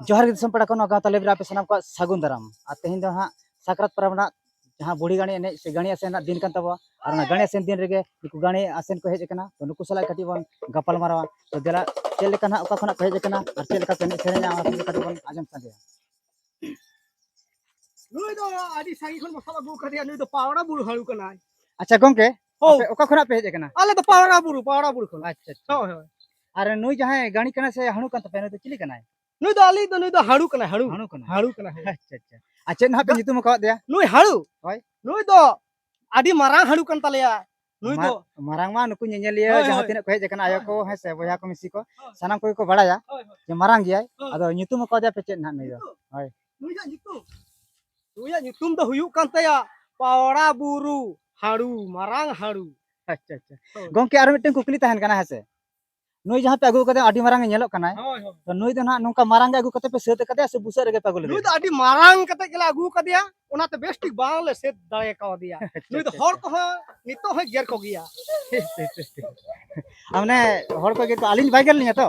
ᱡᱚᱦᱟᱨ ᱜᱮ ᱫᱤᱥᱚᱢ ᱯᱮᱲᱟ ᱠᱚ ᱱᱚᱣᱟ ᱜᱟᱶᱛᱟ ᱞᱮᱵᱨᱮ ᱟᱯᱮ ᱥᱟᱱᱟᱢ ᱠᱚᱣᱟᱜ ᱥᱟᱹᱜᱩᱱ ᱫᱟᱨᱟᱢ ᱟᱨ ᱛᱮᱦᱮᱧ ᱫᱚ ᱦᱟᱸᱜ ᱥᱟᱠᱨᱟᱛ ᱯᱚᱨᱚᱵᱽ ᱨᱮᱱᱟᱜ ᱡᱟᱦᱟᱸ ᱵᱩᱲᱦᱤ ᱜᱟᱹᱲᱤ ᱮᱱᱮᱡ ᱥᱮ ᱜᱟᱹᱲᱤ ᱟᱥᱮᱱ ᱨᱮᱱᱟᱜ ᱫᱤᱱ ᱠᱟᱱ ᱛᱟᱵᱚᱣᱟ ᱟᱨ ᱚᱱᱟ ᱜᱟᱹᱲᱤ ᱟᱥᱮᱱ ᱫᱤᱱ ᱨᱮᱜᱮ ᱱᱩᱠᱩ ᱜᱟᱹᱲᱤ ᱟᱥᱮᱱ ᱠᱚ ᱦᱮᱡ ᱟᱠᱟᱱᱟ ᱛᱚ ᱱᱩᱠᱩ ᱥᱟᱞᱟᱜ ᱠᱟᱹᱴᱤᱡ ᱵᱚᱱ ᱜᱟᱯᱟᱞ ᱢᱟᱨᱟᱣᱟ ᱛᱚ ᱫᱮᱞᱟ ᱪᱮᱫ ᱞᱮᱠᱟ ᱱᱟᱜ ᱚᱠᱟ ᱠᱷᱚᱱᱟᱜ ᱠᱚ ᱦᱮᱡ ᱟᱠᱟᱱᱟ ᱟᱨ ᱪᱮᱫ ᱞᱮᱠᱟ ᱠᱚ ᱮᱱᱮᱡ ᱥᱮᱨᱮᱧᱟ ᱚᱱᱟ ᱠᱚᱜᱮ ᱠᱟᱹᱴᱤᱡ ᱵᱚᱱ ᱟᱸᱡᱚᱢ ᱥᱟᱸᱜᱮᱭᱟ ᱱᱩᱭ ᱫᱚ ᱟᱹᱰᱤ ᱥᱟᱺᱜᱤᱧ ᱠᱷᱚᱱ ᱵᱚ ᱥᱟᱵ ᱟᱹᱜᱩ ᱠᱟᱫᱮᱭᱟ ᱱᱩᱭ ᱫᱚ ᱯᱟᱣᱲᱟ ᱵᱩᱨᱩ ᱦᱟᱹᱲᱩ ᱠᱟᱱᱟᱭ ᱟᱪᱪᱷᱟ ᱜᱚᱝᱠᱮ ᱚᱠᱟ ᱠᱷᱚᱱᱟᱜ ᱯᱮ ᱦᱮᱡ ᱟᱠᱟᱱᱟ ᱟᱞᱮ ᱫᱚ ᱯᱟᱣᱲᱟ ᱵᱩᱨᱩ ᱯᱟᱣᱲᱟ ᱵᱩᱨᱩ ᱠᱷᱚᱱ ᱟᱪᱪᱷᱟ ᱦᱳᱭ ᱦᱳᱭ ᱟᱨ ᱱᱩᱭ ᱡᱟᱦᱟᱸᱭ ᱜᱟᱹᱲᱤ ᱠᱟᱱᱟ ᱥᱮ ᱦᱟᱹᱲᱩ ᱠᱟᱱ ᱛᱟᱯᱮᱭᱟ ᱱᱩᱭ ᱫᱚ ᱪᱤᱞᱤ ᱠᱟᱱᱟᱭ ᱱᱩᱭ ᱫᱚ ᱟᱞᱤᱧ ᱫᱚ ᱱᱩᱭ ᱫᱚ ᱦᱟᱹᱲᱩ ᱠᱟᱱᱟᱭ ᱦᱟᱹᱲᱩ ᱦᱟᱹᱲᱩ ᱠᱟᱱᱟᱭ ᱦᱟᱹᱲᱩ ᱠᱟᱱᱟᱭ ᱟᱪᱪᱷᱟ ᱟᱪᱪᱷᱟ ᱟᱨ ᱪᱮᱫ ᱱᱟᱦᱟᱜ ᱯᱮ ᱧᱩᱛᱩᱢ ᱟᱠᱟᱣᱟᱫ ᱫᱮᱭᱟ ᱱᱩᱭ ᱦᱟᱹᱲᱩ ᱦᱳᱭ ᱱᱩᱭ ᱫᱚ ᱟᱹᱰᱤ ᱢᱟᱨᱟᱝ ᱦᱟᱹᱲᱩ ᱠᱟᱱ ᱛᱟᱞᱮᱭᱟ ᱱᱩᱭ ᱫᱚ ᱢᱟᱨᱟᱝ ᱢᱟ ᱱᱩᱠᱩ ᱧᱮᱧᱮᱞᱤᱭᱟᱹ ᱡᱟᱦᱟᱸ ᱛᱤᱱᱟᱹᱜ ᱠᱚ ᱦᱮᱡ ᱟᱠᱟᱱᱟ ᱟᱭᱳ ᱠᱚ ᱦᱮᱸ ᱥᱮ ᱵᱚᱭᱦᱟ ᱠᱚ ᱢᱤᱥᱤ ᱠᱚ ᱥᱟᱱᱟᱢ ᱠᱚᱜᱮ ᱠᱚ ᱵᱟᱲᱟᱭᱟ ᱡᱮ ᱢᱟᱨᱟᱝ ᱜᱮᱭᱟᱭ ᱟᱫᱚ ᱧᱩᱛᱩᱢ ᱟᱠᱟᱣᱟᱫᱮᱭᱟ ᱯᱮ ᱪᱮᱫ ᱱᱟᱦᱟᱜ ᱱᱩᱭ ᱫᱚ ᱦᱳᱭ ᱱᱩᱭᱟᱜ ᱧᱩᱛᱩᱢ ᱱᱩᱭᱟᱜ ᱧᱩᱛᱩᱢ ᱫᱚ ᱦᱩᱭᱩᱜ ᱠᱟᱱ ᱛᱟᱭᱟ ᱯᱟᱣᱲᱟ ᱵᱩᱨᱩ ᱦᱟᱲᱩ ᱢᱟᱨᱟᱝ ᱦᱟᱲᱩ ᱟᱪᱪᱷᱟ ᱟᱪᱪᱷᱟ ᱜᱚᱝᱠᱮ ᱟᱨ ᱢᱤᱫᱴᱮᱱ ᱠᱩᱠᱞᱤ ᱛᱟᱦᱮᱱ ᱠᱟᱱᱟ ᱦᱮᱸᱥᱮ ᱱᱩᱭ ᱡᱟᱦᱟᱸ ᱯᱮ ᱟᱹᱜᱩ ᱠᱟᱫᱮ ᱟᱹᱰᱤ ᱢᱟᱨᱟᱝ ᱧᱮᱞᱚᱜ ᱠᱟᱱᱟᱭ ᱛᱚ ᱱᱩᱭ ᱫᱚ ᱱᱟᱦᱟᱜ ᱱᱚᱝᱠᱟ ᱢᱟᱨᱟᱝ ᱜᱮ ᱟᱹᱜᱩ ᱠᱟᱛᱮ ᱯᱮ ᱥᱟᱹᱛ ᱠᱟᱫᱮᱭᱟ ᱥᱮ ᱵᱩᱥᱟᱹᱜ ᱨᱮᱜᱮ ᱯᱮ ᱟᱹᱜᱩ ᱞᱮᱫᱮᱭᱟ ᱱᱩᱭ ᱫᱚ ᱟᱹᱰᱤ ᱢᱟᱨᱟᱝ ᱠᱟᱛᱮ ᱜᱮᱞᱮ ᱟᱹᱜᱩ ᱠᱟᱫᱮᱭᱟ ᱚᱱᱟᱛᱮ ᱵᱮᱥ ᱴᱷᱤᱠ ᱵᱟᱝᱞᱮ ᱥᱟᱹᱛ ᱫᱟᱲᱮ ᱠᱟᱣᱫᱮᱭᱟ ᱱᱩᱭ ᱫᱚ ᱦᱚᱲ ᱠᱚᱦᱚᱸ ᱱᱤᱛᱚᱜ ᱦᱚᱸ ᱜᱮᱨ ᱠᱚᱜᱮᱭᱟ ᱢᱟᱱᱮ ᱦᱚᱲ ᱠᱚ ᱜᱮᱨ ᱠᱚ ᱟᱹᱞᱤᱧ ᱵᱟᱭ ᱜᱮᱨ ᱞᱤᱧᱟ ᱛᱚ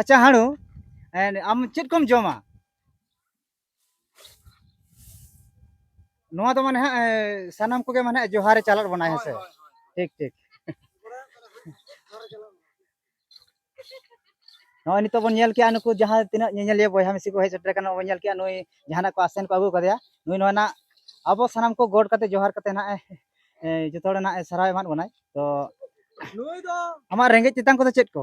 ᱟᱪᱪᱷᱟ ᱦᱟᱲᱩ ᱟᱢ ᱪᱮᱫ ᱠᱚᱢ ᱡᱚᱢᱟ ᱱᱚᱣᱟ ᱫᱚ ᱢᱟᱱᱮ ᱦᱟᱸᱜ ᱥᱟᱱᱟᱢ ᱠᱚᱜᱮ ᱢᱟᱱᱮ ᱡᱚᱦᱟᱨᱮ ᱪᱟᱞᱟᱜ ᱵᱚᱱᱟ ᱦᱮᱸ ᱥᱮ ᱴᱷᱤᱠ ᱴᱷᱤᱠ ᱱᱚᱜᱼᱚᱭ ᱱᱤᱛᱚᱜ ᱵᱚᱱ ᱧᱮᱞ ᱠᱮᱜᱼᱟ ᱱᱩᱠᱩ ᱡᱟᱦᱟᱸ ᱛᱤᱱᱟᱹᱜ ᱧᱮᱧᱮᱞᱤᱭᱟᱹ ᱵᱚᱭᱦᱟ ᱢᱤᱥᱤ ᱠᱚ ᱦᱮᱡ ᱥᱮᱴᱮᱨ ᱠᱟᱱᱟ ᱵᱚᱱ ᱧᱮᱞ ᱠᱮᱜᱼᱟ ᱱᱩᱭ ᱡᱟᱦᱟᱱᱟᱜ ᱠᱚ ᱟᱥᱮᱱ ᱠᱚ ᱟᱹᱜᱩ ᱠᱟᱫᱮᱭᱟ ᱱᱩᱭ ᱱᱚᱣᱟ ᱱᱟᱜ ᱟᱵᱚ ᱥᱟᱱᱟᱢ ᱠᱚ ᱜᱚᱰ ᱠᱟᱛᱮ ᱡᱚᱦᱟᱨ ᱠᱟᱛᱮ ᱱᱟᱜ ᱡᱚᱛᱚ ᱦᱚᱲ ᱱᱟᱜ ᱥᱟᱨᱦᱟᱣ ᱮᱢᱟᱫ ᱵᱚᱱᱟᱭ ᱛᱚ ᱱᱩᱭ ᱫᱚ ᱟᱢᱟᱜ ᱨᱮᱸᱜᱮᱡ ᱛᱮᱛᱟᱝ ᱠᱚᱫᱚ ᱪᱮᱫ ᱠᱚ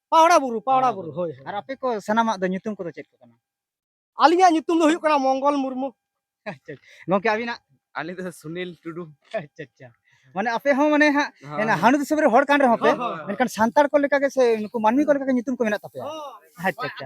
ᱯᱟᱣᱲᱟ ᱵᱩᱨᱩ ᱯᱟᱣᱲᱟ ᱵᱩᱨᱩ ᱦᱳᱭ ᱟᱨ ᱟᱯᱮ ᱠᱚ ᱥᱟᱱᱟᱢᱟᱜ ᱫᱚ ᱧᱩᱛᱩᱢ ᱠᱚᱫᱚ ᱪᱮᱫ ᱠᱚ ᱠᱟᱱᱟ ᱟᱹᱞᱤᱧᱟᱜ ᱧᱩᱛᱩᱢ ᱫᱚ ᱦᱩᱭᱩᱜ ᱠᱟᱱᱟ ᱢᱚᱝᱜᱚᱞ ᱢᱩᱨᱢᱩ ᱟᱪᱪᱷᱟ ᱜᱚᱝᱠᱮ ᱟᱹᱵᱤᱱᱟᱜ ᱟᱹᱞᱤᱧ ᱫᱚ ᱥᱩᱱᱤᱞ ᱴᱩᱰᱩ ᱟᱪᱪᱷᱟ ᱟᱪᱪᱷᱟ ᱢᱟᱱᱮ ᱟᱯᱮ ᱦᱚᱸ ᱢᱟᱱᱮ ᱦᱟᱸᱜ ᱦᱟᱹᱱᱩ ᱫᱤᱥᱚᱢ ᱨᱮ ᱦᱚᱲ ᱠᱟᱱ ᱨᱮᱦᱚᱸ ᱯᱮ ᱢᱮᱱᱠᱷᱟᱱ ᱥᱟᱱᱛᱟᱲ ᱠᱚ ᱞᱮᱠᱟ ᱜᱮ ᱥᱮ ᱱᱩᱠᱩ ᱢᱟᱹᱱᱢᱤ ᱠᱚ ᱞᱮᱠᱟ ᱜᱮ ᱧᱩᱛᱩᱢ ᱠᱚ ᱢᱮᱱᱟᱜ ᱛᱟᱯᱮᱭᱟ ᱟᱪᱪᱷᱟ ᱟᱪᱪᱷᱟ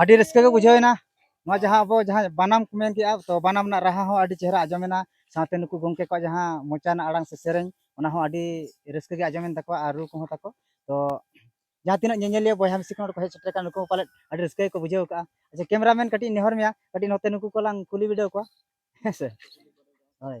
ᱟᱹᱰᱤ ᱨᱟᱹᱥᱠᱟᱹ ᱜᱮ ᱵᱩᱡᱷᱟᱹᱣᱮᱱᱟ ᱱᱚᱣᱟ ᱡᱟᱦᱟᱸ ᱟᱵᱚ ᱡᱟᱦᱟᱸ ᱵᱟᱱᱟᱢ ᱠᱚ ᱢᱮᱱ ᱠᱮᱜᱼᱟ ᱛᱚ ᱵᱟᱱᱟᱢ ᱨᱮᱱᱟᱜ ᱨᱟᱦᱟ ᱦᱚᱸ ᱟᱹᱰᱤ ᱪᱮᱦᱨᱟ ᱟᱸᱡᱚᱢᱮᱱᱟ ᱥᱟᱶᱛᱮ ᱱᱩᱠᱩ ᱜᱚᱢᱠᱮ ᱠᱚᱣᱟᱜ ᱡᱟᱦᱟᱸ ᱢᱚᱪᱟ ᱨᱮᱱᱟᱜ ᱟᱲᱟᱝ ᱥᱮ ᱥᱮᱨᱮᱧ ᱚᱱᱟ ᱦᱚᱸ ᱟᱹᱰᱤ ᱨᱟᱹᱥᱠᱟᱹ ᱜᱮ ᱟᱸᱡᱚᱢᱮᱱ ᱛᱟᱠᱚᱣᱟ ᱟᱨ ᱨᱩ ᱠᱚᱦᱚᱸ ᱛᱟᱠᱚ ᱛᱚ ᱡᱟᱦᱟᱸ ᱛᱤᱱᱟᱹᱜ ᱧᱮᱧᱮᱞᱤᱭᱟᱹ ᱵᱚᱭᱦᱟ ᱢᱤᱥᱤ ᱠᱚ ᱱᱚᱰᱮ ᱠᱚ ᱦᱮᱡ ᱥᱮᱴᱮᱨ ᱟᱠᱟᱱ ᱱᱩᱠᱩ ᱯᱟᱞᱮᱫ ᱟᱹᱰᱤ ᱨᱟᱹᱥᱠᱟᱹ ᱜᱮᱠᱚ ᱵᱩᱡᱷᱟᱹᱣ ᱠᱟᱜᱼᱟ ᱟᱪᱪᱷᱟ ᱠᱮᱢᱮᱨᱟᱢᱮᱱ ᱠᱟᱹᱴᱤᱡ ᱱᱮᱦᱚᱨ ᱢᱮᱭᱟ ᱠᱟᱹᱴᱤᱡ ᱱᱚᱛᱮ ᱱᱩᱠᱩ ᱠᱚ ᱞᱟᱝ ᱠᱩᱞᱤ ᱵᱤᱰᱟᱹᱣ ᱠᱚᱣᱟ ᱦᱮᱸ ᱥᱮ ᱦᱳᱭ